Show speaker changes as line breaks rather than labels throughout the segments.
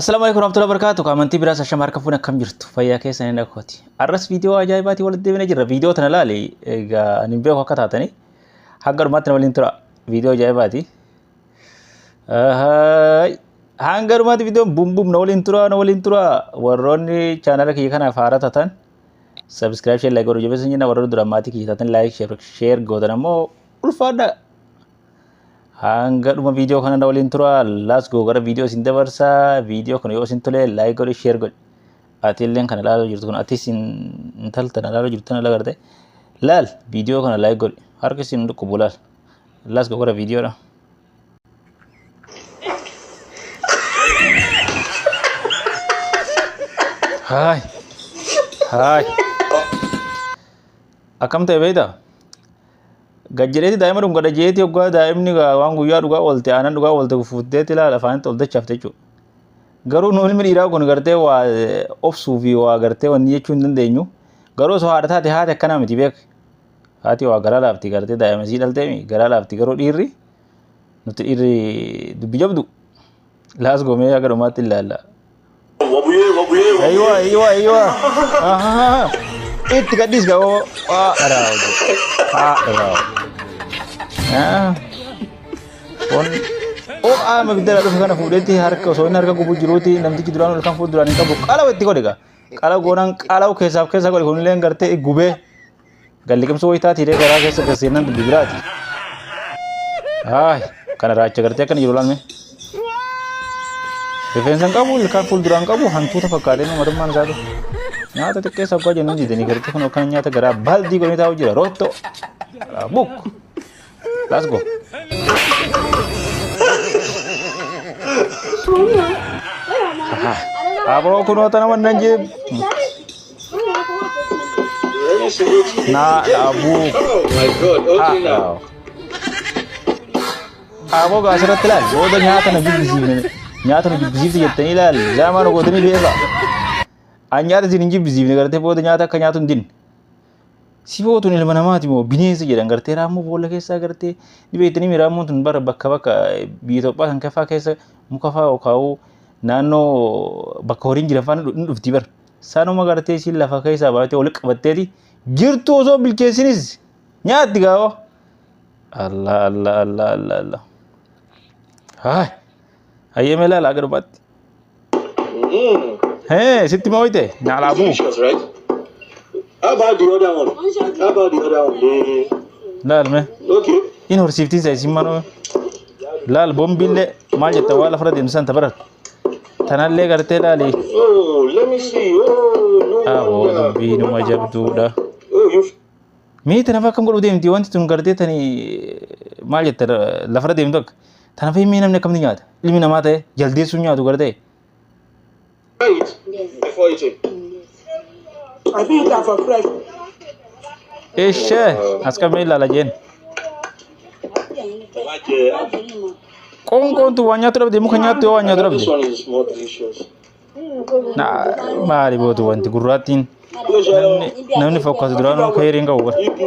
Assalaamu alaikum warahmatullahi wabarakatuh. Amantii biraas ashama harka fuun akkam jirtu fayyaa keessan hin dhaggeeffati. Arras viidiyoo ajaa'ibaatiin walitti deebinee jirra. Viidiyoo tana laali egaa ani hin beeku akka taatanii hanga dhumaatti na waliin tura. Viidiyoo ajaa'ibaati. Ahaay. Hanga dhumaatti viidiyoon bum bum na waliin tura na waliin tura. Warroonni chaanala kiyya kanaaf haaraa taatan sabiskiraayib sheer laayik godhu jabeessan jenna warroonni duraan maatii kiyya taatan laayik sheer gootan ammoo ulfaadhaa. Hanga dhuma viidiyoo kana na waliin tura. Laas goo gara viidiyoo isin dabarsa. Viidiyoo kana yoo isin tole laayik godhi sheer godhi. Ati illee kana ilaalaa jirtu kun atis intal tana ilaalaa jirtu tana ilaalaa garte. Laal viidiyoo kana laayik godhi. Harki isin dhukkubu laal. Laas goo gara viidiyoodha. Haay. Haay. Akkam ta'e beektaa? Gad jedheeti daa'ima dhungadha jeeti hoggaa daa'imni waan guyyaa dhugaa oolte aanan dhugaa oolte fuutteeti ilaala afaanitti ol dachaafte jechuudha. Garuu nu ilmi dhiiraa kun gartee waa obsuu fi waa gartee wanni jechuu hin dandeenyu. Garuu osoo haadha taate haati akkanaa miti beek. Haati waa garaa laafti gartee daa'ima isii dhalteemi garaa laafti garuu dhiirri nuti dhiirri dubbi jabdu. Laas gomee akka dhumaatti ilaalla. Wabuyee wabuyee Ayiwa ayiwa ayiwa. Ahaa. Itti gadhiis gaa oo. Waa dharaa hojii. Haa dharaa hojii. Ah. Kun oo qaama ibidda irraa dhufe kana fuudheetti harka osoo inni harka gubuu jiruuti namtichi duraan ol kan fuulduraan hin qabu qalawa itti godhe gaa. Qala goonaan qalawu keessaaf keessa godhe kunillee gartee gubee. Galliqimsuu wayitaati hidhee garaa keessa gasseennan dubbi biraati. Haay kana raacha gartee akkana jiru laalme. Rifeensa hin qabu ilkaan fuulduraa hin qabu hantuuta fakkaatee nama matummaan isaa ta'e. Nyaata xiqqeessa abbaa jennan didanii gartee kun akkana nyaata garaa baaldii godhanii taa'u jira rootto. Buk. Let's go. Aboo kunoota nama nan jeeb. Naa dhaabuu. Oh my god, okay now. Aboo gaa asirratti ilaali. Booda nyaata na jibbisiifne. Nyaata na jibbisiifte jettanii ilaali. Zaamaa na gootanii beekaa. An nyaata isin hin jibbisiifne gartee booda nyaata akka nyaatu hin dinne. Sifoo tun ilma namaati moo bineensa jedhan gartee raammoo boolla keessaa gartee ni beektanii raammoon tun bara bakka bakka biyya Itoophiyaa kan kafaa keessa muka fa'aa okaa'uu naannoo bakka horiin jiran fa'aa ni dhufti bara. Sanuma gartee siin lafa keessaa baatee ol qabatteeti jirtu osoo bilcheessinis nyaatti gaawoo. Allah Allah Allah Allah Allah. Haay. Hayyee mee laala akka dhumaatti. Mm. Hey, sitti mooyte naalaa buu. Delicious, right?
How about the other one? How about the other one? The...
Laal mee. Okay. In
horsiiftiin isaa
isin manoo. Laal bombiillee maal jetta waa lafarra deemsisan tabarar. Tanallee gartee laali. Oh, let me
see. Oh, no Aboo
wonder. dubbii numa jabduudha. Oh, you
Miiti
nafa akkam godhu deemti wanti tun gartee tani maal jetta lafarra deemtu akka. Tana fahimee namni akkamitti nyaata? Ilmi namaa ta'e jaldeessuun nyaatu gara ta'e.
Wait before eating.
I think you can for fresh. Ishee
as qabee ilaala jeen. Qoonqoontu waan nyaatu dhabde muka nyaattu yoo waan nyaatu This dhabde. one is more
delicious. Na
maali bootu wanti gurraattiin Pleasure. namni namni fokkatu duraanuu keeriin qabu. Ibu.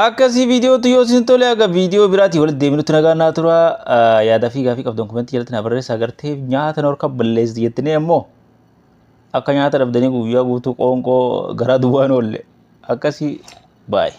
Akkasii viidiyootu yoo isin tole aga viidiyoo biraatii walitti deebinutti nagaan naa tura yaadaa fi gaafii qabdan komentii jalatti naa barreessa agartee nyaata norka balleessi jettinee ammoo akka nyaata dhabdanii guyyaa guutuu qoonqoo garaa duwwaan oolle akkasii baay'ee.